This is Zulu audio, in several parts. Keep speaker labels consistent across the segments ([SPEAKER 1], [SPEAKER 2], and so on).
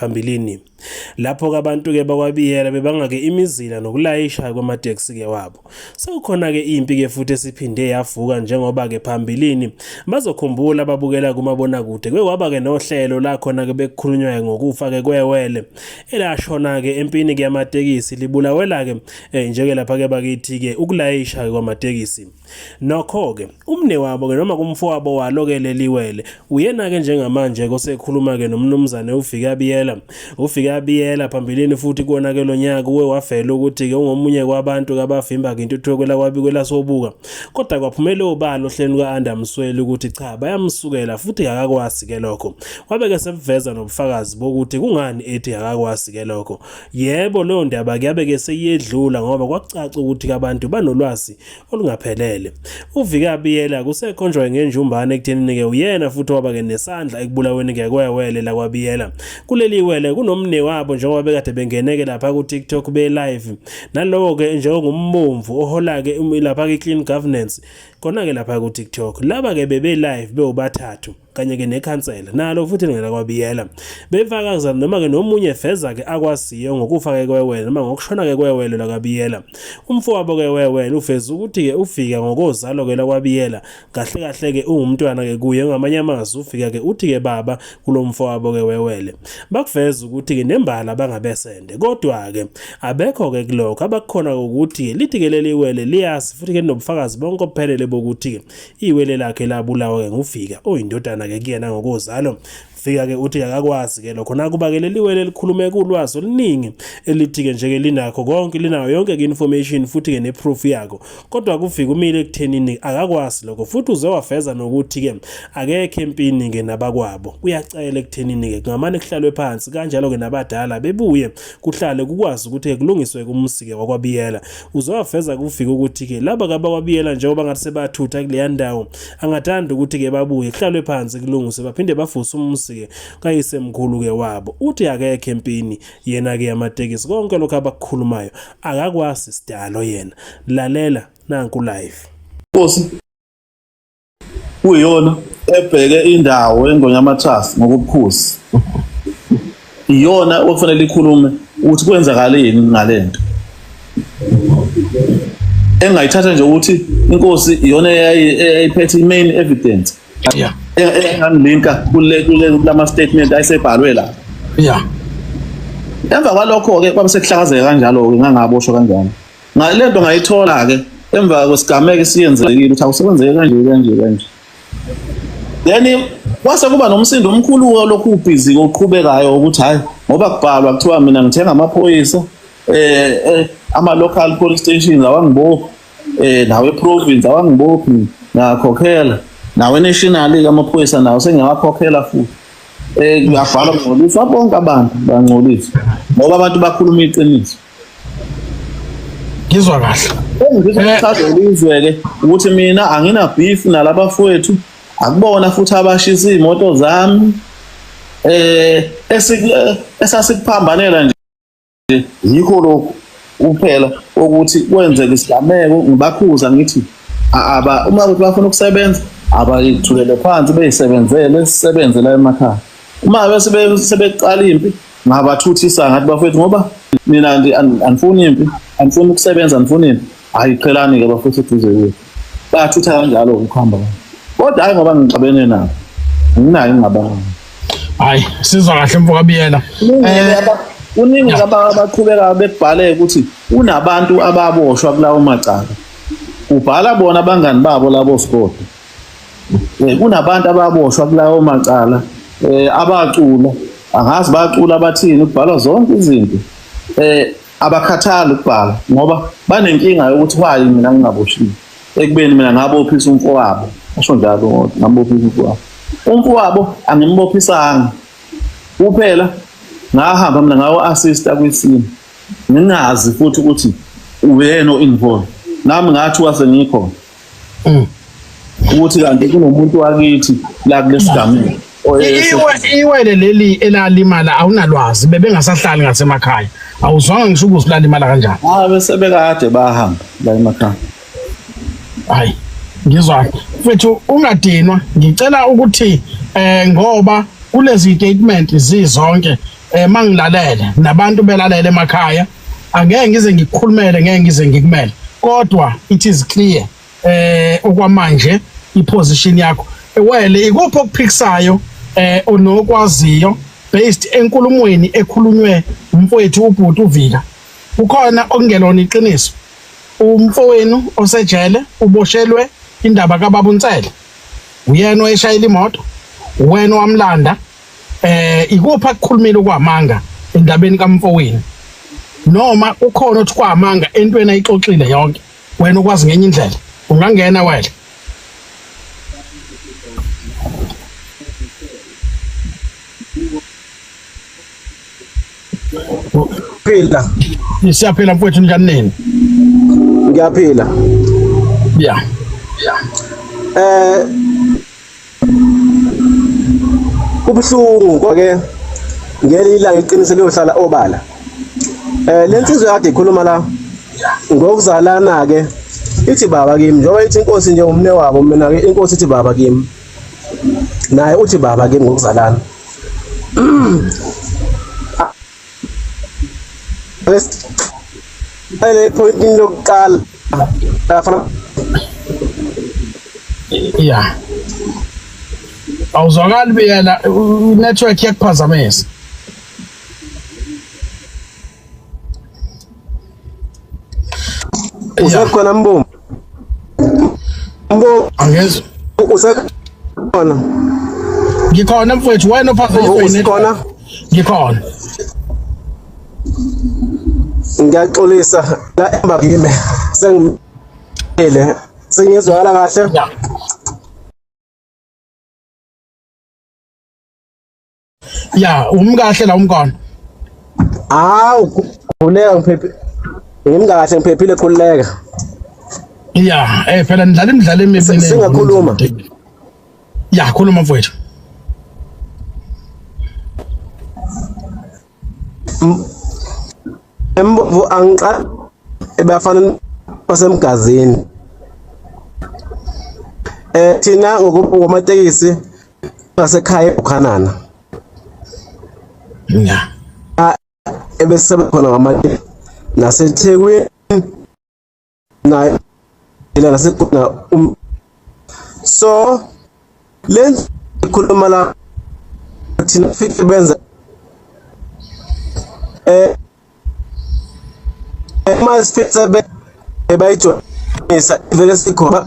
[SPEAKER 1] phambilini lapho-ke abantu-ke bakwabiyela bebangake imizila nokulayisha kwamateksi-ke wabo sekukhona-ke impi-ke futhi esiphinde yavuka njengoba-ke phambilini bazokhumbula ababukela kumabonakude kwekwaba-ke nohlelo la khona-ke bekukhulunywa-ke ngokufa-ke kwewele elashona-ke empini-ke yamatekisi libulawela-ke um eh, njeke lapha-ke bakithi-ke ukulayisha-ke kwamatekisi Nokho-ke, umnewabo-ke noma kumfowabo walo-ke leli wele, uyena-ke njengamanje-ke osekhuluma-ke noMnumzane uViki Abiyela. UViki Abiyela phambilini futhi kuwona-ke lo nyaka uwe wavela ukuthi-ke ungomunye kwabantu-ke abavimba-ke intuthuko kwelakwabi kwelasobuka. Kodwa kwaphumela obala ohlelweni luka-Anda Msweli ukuthi cha bayamsukela futhi kakakwazi-ke lokho. Wabe-ke sebuveza nobufakazi bokuthi kungani ethi kakakwazi-ke lokho. Yebo, leyo ndaba-ke yabe-ke seyedlula ngoba kwakucaca ukuthi-ke abantu banolwazi olungaphelele. UVika Biyela kusekhonjwa ngenjumbane ekuthenini ke uyena futhi waba ke nesandla ekubulaweni ke kwewele la kwaBiyela. Kuleli wele kunomne wabo njengoba bekade bengeneke lapha ku TikTok be live. Nalowo ke njengombomvu ohola ke um, lapha ke Clean Governance kona ke lapha ku TikTok. Laba ke bebe live bewubathathu. kanye-ke nekhansela nalo futhi ngela kwabiyela befakaza noma-ke nomunye feza-ke akwaziyo ngokufa-ke kwewele noma ngokushona-ke kwewele lakabiyela umfowabo-ke wewele ufeza ukuthi-ke ufika ngokozalo-ke lakwabiyela kahle kahle-ke ungumntwana-ke kuye ngamanye amazwi ufika-ke uthi-ke baba kulo mfowabo-ke wewele bakuveza ukuthi-ke nembala bangabesende kodwa-ke abekho-ke kulokho abakukhona ukuthi-ke lithi-ke leli wele liyazi futhi-ke linobufakazi bonke obuphelele bokuthi-ke iwele lakhe labulawa-ke nguvika oyindodana-ke kuyena ngokozalo fika-ke uthi akakwazi-ke lokho nakuba-ke leli wele elikhulume kulwazi oluningi elithi-ke nje-ke linakho konke linayo yonke-ke information futhi-ke neproof yakho kodwa kufika umile ekuthenini akakwazi lokho futhi uze wafeza nokuthi-ke akekho empini-ke nabakwabo kuyacela ekuthenini-ke kungamane kuhlalwe phansi kanjalo-ke nabadala bebuye kuhlale kukwazi ukuthi-ke kulungiswe-ke umusi-ke wakwabiyela uzowafeza kufika ukuthi-ke laba kabakwabiyela njengoba ngathi sebathutha kuleya ndawo angathanda ukuthi-ke babuye kuhlalwe phansi kulungise baphinde bafuse umusi-ke kayisemkhulu-ke wabo uthi akekho empini yena-ke yamatekisi konke lokhu abakukhulumayo akakwazi sidalo yena lalela nanku live
[SPEAKER 2] kuyiyona ebheke indawo engonyamathasi ngokubukhosi iyona okufanele ikhulume ukuthi kwenzakaleni ngalento engayithatha nje ukuthi inkosi iyona eyayiphethe i-main evidence yeah engangilinka kule kule lama statement ayisebhalwe la yeah emva kwalokho ke kwabe sekuhlakazeka kanjalo ke ngangaboshwa kanjalo ngale nto ngayithola-ke emva kwesigameko esiyenzekile ukuthi awusebenzeke kanje kanje kanje then kwase kuba nomsindo omkhulu walokhu ubhizi oqhubekayo ukuthi hhayi ngoba kubhalwa kuthiwa mina ngithenga amaphoyisa eh, eh ama-local police stations awangibophi eh nawe province awangibophi ngakhokhela nawe national-ke amaphoyisa nawo sengiyawakhokhela futhi um eh, kuyabhalwa kungcolisa bonke abantu bangcolisa ngoba abantu bakhuluma iqiniso
[SPEAKER 3] ngizwa kahle
[SPEAKER 2] ngizwe-ke ukuthi mina angina beef nalabafowethu akubona futhi abashisa iy'moto zami eh esasikuphambanela nje yikho lokhu kuphela ukuthi kwenzeka isigameko ngibakhuza ngithi aba uma ukuthi bafuna ukusebenza abayithulele phansi beyisebenzele sisebenze la emakhaya uma bese sebeqala impi ngabathuthisa ngathi bafethu ngoba mina andifuni impi andifuni ukusebenza andifuni impi hayi qhelani-ke bafethu eduze kwethu bayathutha kanjalo ukuhamba kodwa hayi ngoba ngixabene nabo nginayo ingabanga hayi
[SPEAKER 3] sizwa kahle mfoka biyela kuningi
[SPEAKER 2] eh, abaqhubeka bekubhale ukuthi unabantu ababoshwa kulawo macala ubhala bona abangani babo labo sikode eh, kunabantu ababoshwa kulawo macala eh, abacula angazi bacula abathini kubhalwa zonke izinto eh abakhathali ukubhala ngoba banenkinga yokuthi wayi mina ngingaboshiwe ekubeni mina ngabophisa umfowabo asho njalo ngoba ngabophisa umfowabo umfowabo angimbophisanga kuphela ngahamba mina ngawo assista kwisimo ngingazi futhi ukuthi uyena o-involved nami ngathi wase ngikhona Mm. ukuthi kanti kunomuntu wakithi la kulesigameko
[SPEAKER 3] iwele leli elalimala awunalwazi bebengasahlali ngasemakhaya awuzwanga ngisho ukuthi lalimala kanjani ah bese bekade
[SPEAKER 2] bahamba la emakhaya
[SPEAKER 3] hayi ngizwa mfethu ungadinwa ngicela ukuthi eh ngoba kulezi statement zizonke eh mangilalele nabantu belalele emakhaya angeke ngize ngikukhulumele ngeke ngize ngikumele kodwa it is clear eh okwamanje iposition yakho wele ikuphi okuphikisayo eh onokwaziyo based enkulumweni ekhulunywe umfowethu ubhuti uvika ukhona okungelona iqiniso umfowenu osejele uboshelwe indaba kababa uNtsele uyena oyeshayela imoto wena wamlanda eh ikuphi akukhulumile kwamanga endabeni kamfowini noma ukhona othi kwamanga entweni ayixoxile yonke wena ukwazi ngenye indlela ungangena wena
[SPEAKER 4] phila siyaphila
[SPEAKER 3] mfowethu njani nini
[SPEAKER 4] ngiyaphila
[SPEAKER 3] yeah yeah eh
[SPEAKER 4] kubuhlungu kwake ngelinye ilanga iqiniso liyohlala obala eh le nsizwa kade ikhuluma la ngokuzalana ke ithi baba kimi njengoba ithi inkosi nje umne wabo mina ke inkosi ithi baba kimi naye uthi baba kimi ngokuzalana Ele point into yokuqala. Afana.
[SPEAKER 3] Yeah. Awuzwakali beyela network yakuphazamisa.
[SPEAKER 4] usekhona mbumbu mbo
[SPEAKER 3] angezwa usekhona ngikhona mfowethu wena ophazanyiswe usekhona ngikhona
[SPEAKER 4] ngiyaxolisa la emba kimi sengimile sengizwakala kahle yeah.
[SPEAKER 3] ya umkahle la umkona
[SPEAKER 4] awu khuleka ngiphephi ngimkahle ngiphephile khuleka
[SPEAKER 3] ya eh phela nidlala imidlalo emibili singakhuluma ya khuluma mfowethu
[SPEAKER 4] embo angiqa ebafana basemgazini eh thina ngokuphuma amatekisi basekhaya eBukhanana
[SPEAKER 3] ya
[SPEAKER 4] ebesebenza khona ngamanye naseThekwini na ila naseGudna um so lenza ikhuluma la thina fithi benza eh uma sifithe be bayijwayisa vele sikhona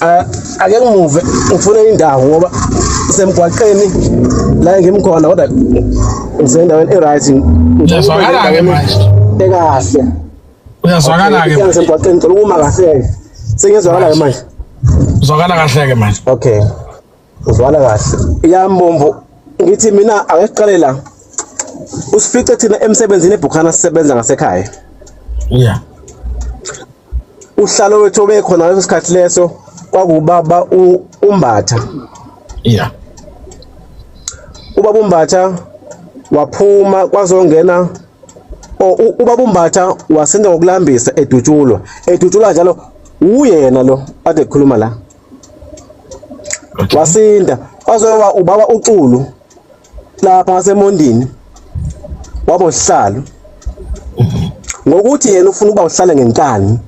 [SPEAKER 4] Ah, ake ngimuve ngifune indawo ngoba semgwaqeni la ngimkhona kodwa ngisendaweni e-right uyazwakala-ke manje
[SPEAKER 3] ekahle uyazwakala-ke semgwaqeni ngicela ukuma kahle-ke
[SPEAKER 4] sengiyezwakala-ke manje uzwakala
[SPEAKER 3] kahle-ke manje okay
[SPEAKER 4] uzwana kahle ya mbombo ngithi mina ake siqale la usifice thina emsebenzini ebhukhana sisebenza ngasekhaya
[SPEAKER 3] yeah
[SPEAKER 4] uhlalo wethu obekhona ngaleso sikhathi leso kwakubaba umbatha
[SPEAKER 3] yeah
[SPEAKER 4] ubaba umbatha waphuma kwazongena ubaba umbatha wasinda ngokulambisa edutshulwa edutshulwa njalo uyena lo ade khuluma la wasinda waze wa ubaba uxulu lapha ngasemondini wabo sihlalo ngokuthi yena ufuna ukuba uhlale ngenkani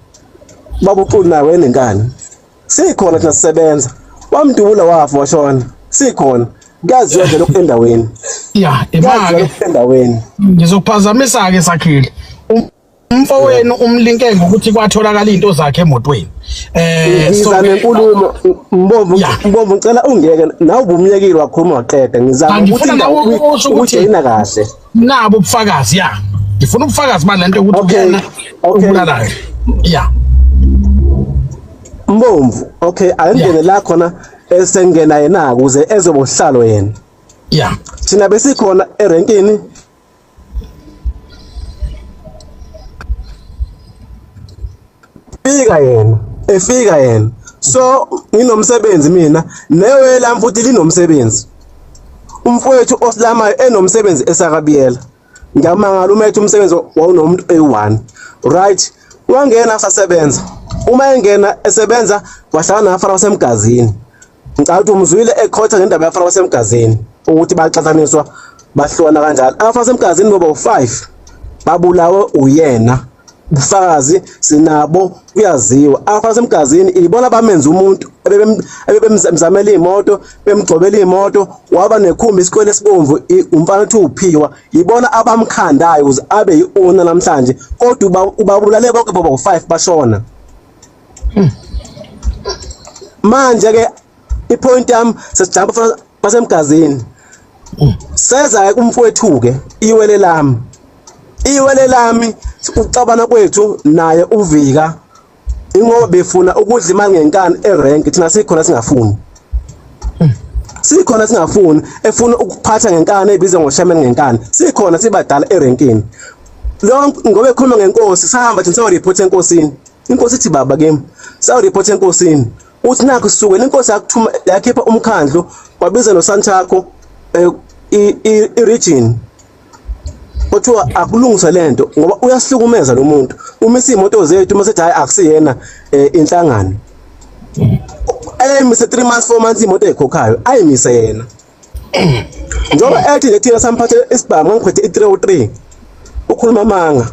[SPEAKER 4] baba uxulu naye wenenkani sikhona thina sisebenza wamdubula wafa washona sikhona kuyaziwa nje lokhu endaweni ya
[SPEAKER 3] imake endaweni
[SPEAKER 4] ngizophazamisa
[SPEAKER 3] ke sakhile umfowenu umlinke ngokuthi kwatholakala izinto zakhe emotweni eh ngiza nenkulumo
[SPEAKER 4] mbovu mbovu ngicela ungeke nawe ubumyekile wakhuluma waqeda ngizama ukuthi ukuthi yina kahle nabo ubufakazi
[SPEAKER 3] ya ngifuna ubufakazi balento ukuthi yena ubulalayo ya
[SPEAKER 4] mbomvu okay ayingene la khona esengena yena ukuze ezobohlalo yena ya thina besikhona erenkini fika yena efika yena so nginomsebenzi mina newe lami futhi linomsebenzi umfowethu osilamayo enomsebenzi esakabiyela ngiyamangala uma ethi umsebenzi wawunomuntu eyi-one right wangena sasebenza uma engena esebenza wahlangana nabafana basemgazini Ngicabanga ukuthi umzwile ekhotha ngendaba yafana wasemgazini ukuthi baxathaniswa bahlukana kanjalo. Afa semgazini bobo 5 babulawe uyena. Bufakazi sinabo kuyaziwa. Afa semgazini ibona bamenza umuntu ebebemzamela imoto, bemgcobela imoto, waba nekhumbi isikwele sibomvu umfana uthi uphiwa. Ibona abamkhandayo ukuze abe yiona namhlanje. Kodwa ubabulale bonke bobo 5 bashona. manje ke ipoint yami sesijamba fana basemgazini seza ke kumfowethu ke iwele lami iwele lami ucabana kwethu naye uvika ingoba befuna ukudla imali ngenkani erank thina sikhona singafuni sikhona singafuni efuna ukuphatha ngenkani ebiza ngoshaman ngenkani sikhona sibadala erankini lonke ngoba ekhuluma ngenkosi sahamba thina siyo report enkosini inkosi ithi baba kimi sawu report enkosini uthi nakho sisukela inkosi yakuthuma yakhipha umkhandlu wabiza nosanthakho eh, i-region kuthiwa akulungise lento ngoba uyasihlukumeza lo muntu uma isimoto zethu uma sethi hayi akusiyena eh, inhlangano ayimise 3 months 4 months imoto ekhokhayo ayimise yena njengoba ethi nje thina samphathe isibhamu ngangiphethe i-three o three ukhuluma amanga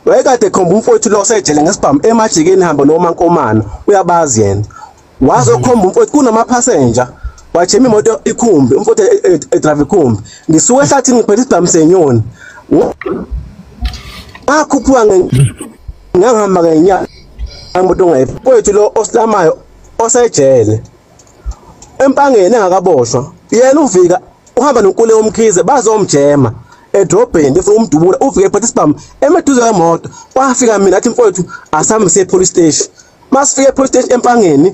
[SPEAKER 4] wayekade ekhomba umfowethu lo osejele ngesibhamu emajikeni hamba nomankomana uyabazi yena waze okhomba umfowethu kunamaphasenja wajima imoto ikhumbi umfowethu e- e- edrayiva ikhumbi ngisuke ehlathini ngiphethe isibhamu senyoni ngakhuphuka ngangihamba ngenyanga imoto ongayifowethu lo osilamayo osejele empangeni engakaboshwa yena uvika uhamba nonkule omkhize bazomjema edrobheni befuna umdubula uvike ephatha isibhamu emeduze kwemoto kwafika mina athi mfowethu asambe siye police station masifike police station empangeni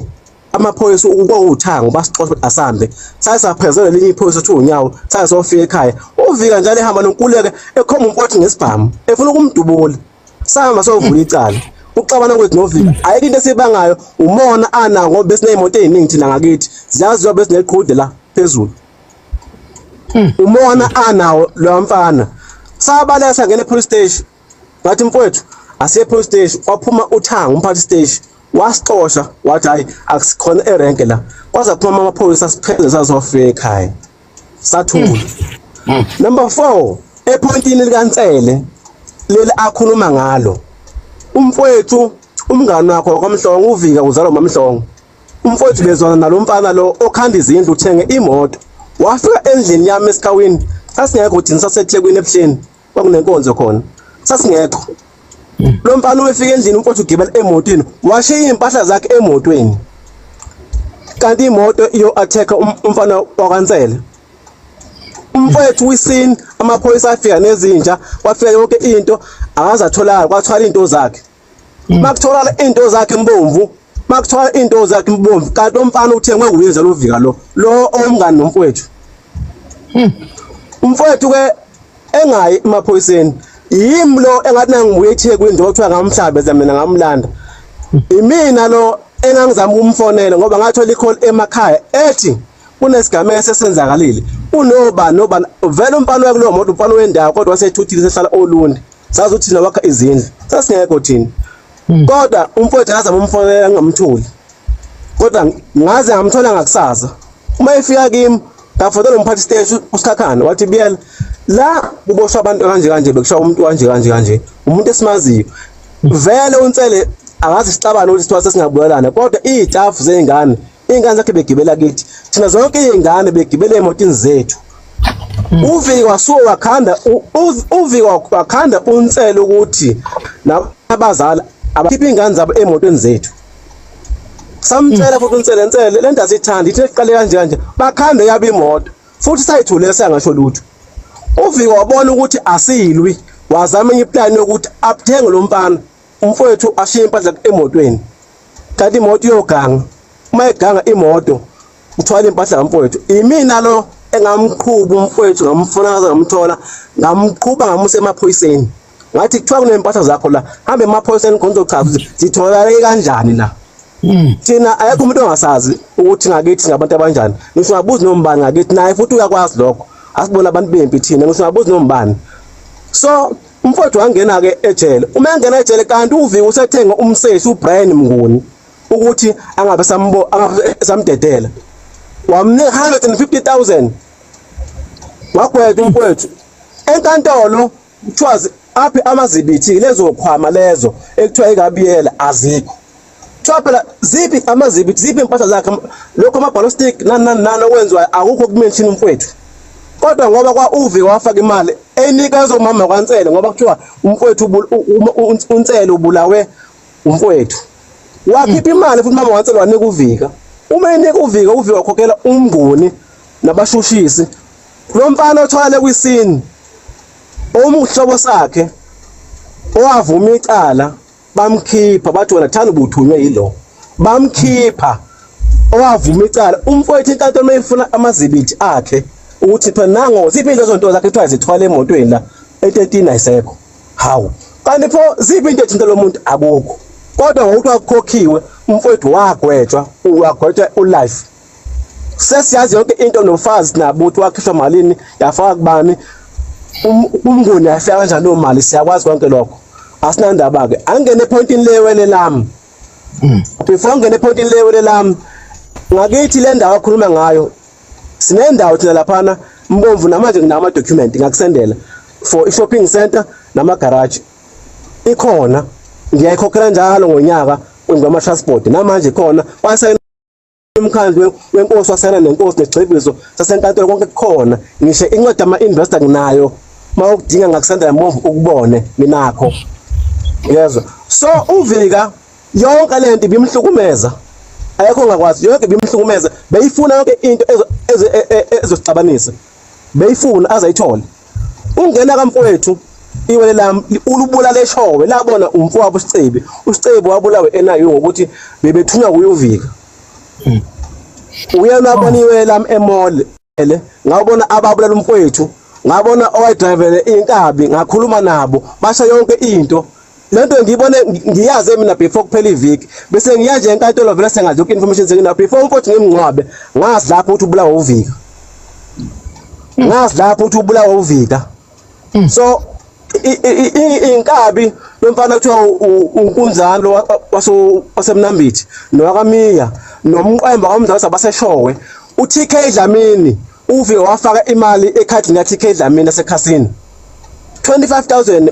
[SPEAKER 4] amaphoyisa ukwawuthango basixoxa asambe saye saphezela linye iphoyisa uthi unyawo saye sofika ekhaya uvika njalo ehamba nonkuleke ekhomba umfowethu ngesibhamu efuna ukumdubula sahamba sovula icala ukuxabana kwethu novika ayikho into esibangayo umona ana ngoba besineyimoto eziningi thina ngakithi ziyaziwa besineqhude la phezulu hmm. umona anawo lo mfana sabaleka sangena epolice station ngathi mfowethu asiye epolice station kwaphuma uthanga umphathi station wasixosha wathi hayi akusikhona erenke la kwaze phuma amaphoyisa sipheze sazofika ekhaya sathula hmm. hmm. number 4 epointini likaNsele leli akhuluma ngalo umfowethu umngani wakho wakwamhlongo uvika uzalwa mamhlongo umfowethu bezwana nalomfana lo okhanda izindlu uthenge imoto wafika endlini yami esikawini sasingekho thina sasethekwini ebuhleni kwakunenkonzo khona sasingekho hmm. lo mfana ubefika endlini umfowethu ugibela emotweni washiya iy'mpahla zakhe emotweni kanti imoto iyo-attack um, umfana wakansele umfowethu wisini amaphoyisa afika nezinja kwafika yonke into akazatholakala kwathwala iy'nto zakhe makuthola into zakhe mbomvu makuthola into zakhe mbomvu kanti umfana uthengwe nguye nje lovika lo lo omngani nomfowethu hmm. umfowethu ke engayi emaphoyiseni yimi lo engathi nangibuye eThekwini nje kuthiwa ngamhlabeza mina ngamlanda imina lo engangizama ukumfonela ngoba ngathola icall emakhaya ethi kunesigameko esesenzakalile unoba noba vele umfana wakulowo moto umfana wendawo kodwa wasethuthile sehlala olundi sazi ukuthi thina wakha izindlu sasingekho thina hmm. kodwa umfowethu akazama umfonela ngingamtholi kodwa ngaze ngamthola ngakusasa uma efika kimi ngafonela umphathi stage usikhakhana wathi biyela la kuboshwa abantu kanje kanje bekushaya umuntu kanje kanje kanje umuntu esimaziyo hmm. vele unsele angazi sixabana ukuthi sithiwa sesingabuyelana kodwa iy'tafu zey'ngane iy'ngane zakhe begibela kithi thina zonke iy'ngane begibela emotini zethu hmm. uviki wasuke wakhanda uviki wakhanda unsele ukuthi nabazali abakhiphe iy'ngane zabo emotweni zethu samtshela hmm. futhi unsele nsele le nto asithandi ithi eqale kanje kanje bakhande yaba imoto futhi sayithule sangasho lutho uviki wabona ukuthi asiyilwi wazama enye iplani yokuthi abuthenge lo mfana umfowethu ashiye impahla emotweni kanti imoto iyoganga uma eganga imoto uthwala impahla kamfowethu imina lo engamqhuba umfowethu ngamfuna ngaze ngamthola ngamqhuba ngamusa emaphoyiseni ngathi kuthiwa kunempahla zakho la hambe emaphoyiseni khona uzochaza ukuthi zitholakale kanjani la hmm. thina ayekho umuntu ongasazi ukuthi ngakithi ngabantu abanjani ngisho ngabuzi nombani ngakithi naye futhi uyakwazi lokho asibona abantu bempi thina ngisho ngabuzi nombani so Umfowethu wangena ke ejele. Uma engena ejele kanti uViki usethenge umsesi uBrian Mnguni ukuthi angabe sambo angabe samdedela. Wamnika 150000. Wagwetha umfowethu. Enkantolo kuthiwa aphi amazibithi lezo khwama lezo ekuthiwa ikabiyela azikho. Kuthiwa phela ziphi amazibi ziphi impahla zakhe lokho amabhalo stick nani nani nani okwenziwayo akukho kumenshini umfowethu kodwa ngoba kwa uvi wafaka imali enikeza umama kwansele ngoba kuthiwa umfowethu unsele ubulawe umfowethu wakhipha imali futhi mama wansele wanika uvika uma enika uvika uvika wakhokhela umnguni nabashushisi lo mfana othwale kwisini omuhlobo sakhe owavuma icala bamkhipha bathi wena thanda ubuthunywe yilo bamkhipha owavuma icala umfowethu inkantolo mayifuna amazibithi akhe ukuthi phela nango ziphi into zonto zakhe kuthiwa zithwala emotweni la e13 ayisekho hawu kanti pho ziphi into ethinta lo muntu akukho kodwa ngokuthi wakukhokhiwe umfowethu wagwetshwa wagwetshwa ulife sesiyazi yonke into nofazi nabuthi wakhishwa malini yafaka kubani um, umnguni yafika kanjani leyo mali siyakwazi konke lokho asinandaba-ke angene ephoyintini lewele lami hmm. before angene ephoyintini lewele lami ngakithi le ndawo akhuluma ngayo sinendawo thina laphana mbomvu namanje nginawo ama-document ngakusendela for i-shopping center namagaraji ikhona ngiyayikhokhela njalo ngonyaka kwenziwa ama-transport namanje khona umkhandlu wenkosi wasena nenkosi negcebiso sasenkantolo konke kukhona ngisho incwadi ama-investor nginayo uma ukudinga ngakusendela move ukubone nginakho yezwa so uvika yonke le nto ibimhlukumeza ayekho ngakwazi yonke ibimhlukumeza beyifuna yonke into ezosixabanisa e, e, beyifuna azayithole ungena kamfowethu iwele lami ulubulala eshowe labona umfowabo uSicebi uSicebi wabulawe enayo ngokuthi bebethunywa kuyovika hmm. uyena abona iwele lami emall ele ngabona ababulala umfowethu ngabona owayedrivele inkabi ngakhuluma nabo basha yonke into lento ngiyibone ngiyaze mina before kuphela iviki bese ngiya nje enkantolo vele sengazi yonke information sengina before umfowethu ngimngcwabe ngazi lapho ukuthi ubulawa uvika ngazi lapho ukuthi ubulawa uvika hmm. so inkabi lomfana kuthiwa unkunzani lo wasemnambithi nowakamiya nomqwemba kwamdlalo sabaseshowe uTK Dlamini uvike wafaka imali ekhadini kaTK Dlamini esekhasini 25000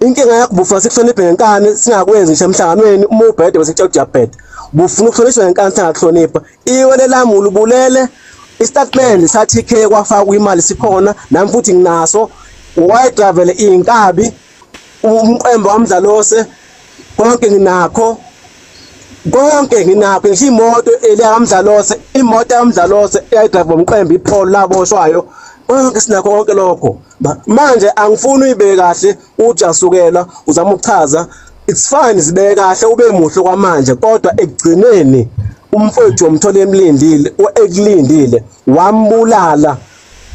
[SPEAKER 4] inkinga yakho bufuna sikuhloniphe ngenkani singakwenzi ngisho emhlanganweni uma ubhede bese kuthiwa kujabhede bufuna ukuhlonishwa ngenkani singakuhlonipha iwe lelami ulubulele istatement sa-tk kwafakwa imali sikhona nami futhi nginaso wayedravele iy'nkabi umqembo wamdlalose konke nginakho konke nginakho ngisho imoto eliyakamdlalose imoto yakamdlalose eyayidrayiva umqembe ipholo laboshwayo konke sinakho konke lokho manje angifuni uyibeke kahle uthi asukela uzama ukuchaza it's fine sibeke kahle ube muhle kwamanje kodwa ekugcineni umfowethu womthola emlindile ekulindile wambulala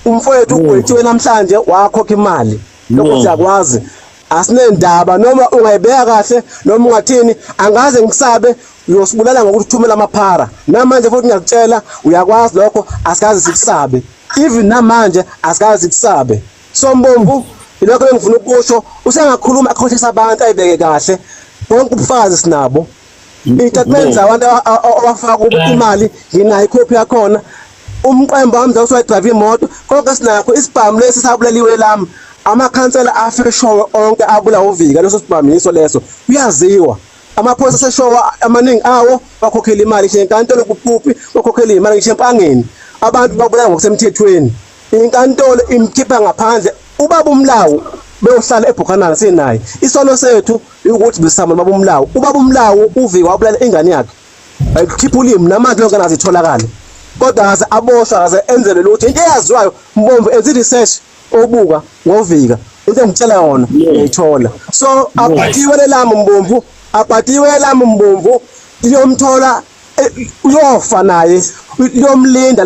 [SPEAKER 4] umfowethu ugwetshiwe namhlanje wakhokha imali lokho siyakwazi asinendaba noma ungayibeka kahle noma ungathini angaze ngikusabe uyosibulala ngokuthi uthumela amaphara namanje futhi ngiyakutshela uyakwazi lokho asikaze sikusabe even namanje asikaze sikusabe sombomvu ilokho engifuna ukusho usengakhuluma akhohlisa abantu ayibeke kahle bonke ubufakazi sinabo itatimende zabantu abafaka kubo eh. imali nginayo ikhophi yakhona umqembo wami zawusiwadrayiva imoto konke sinakho isibhamu lesi sabuleliwe lami amakhansela afeshowe onke abula uvika leso sibhamu yiso leso kuyaziwa amaphoyisa aseshowa amaningi awo bakhokhela imali ngisho enkantolo kupuphi bakhokhela imali ngisho empangeni abantu babulala ngokusemthethweni inkantolo imkhipha ngaphandle ubaba umlawu beyohlala ebhukhanana sinaye isono sethu ukuthi bisama ubaba umlawu ubaba umlawu uvika wabulala ingane yakhe ayikhipha ulimi namanje lonke nazi itholakala kodwa ngase aboshwa ngase enzele lutho into eyaziwayo mbomvu enze research obuka ngovika into engitshela yona ngiyithola so aphathiwe lelami mbomvu aphathiwe lelami mbomvu iyomthola eh, uyofa naye uyomlinda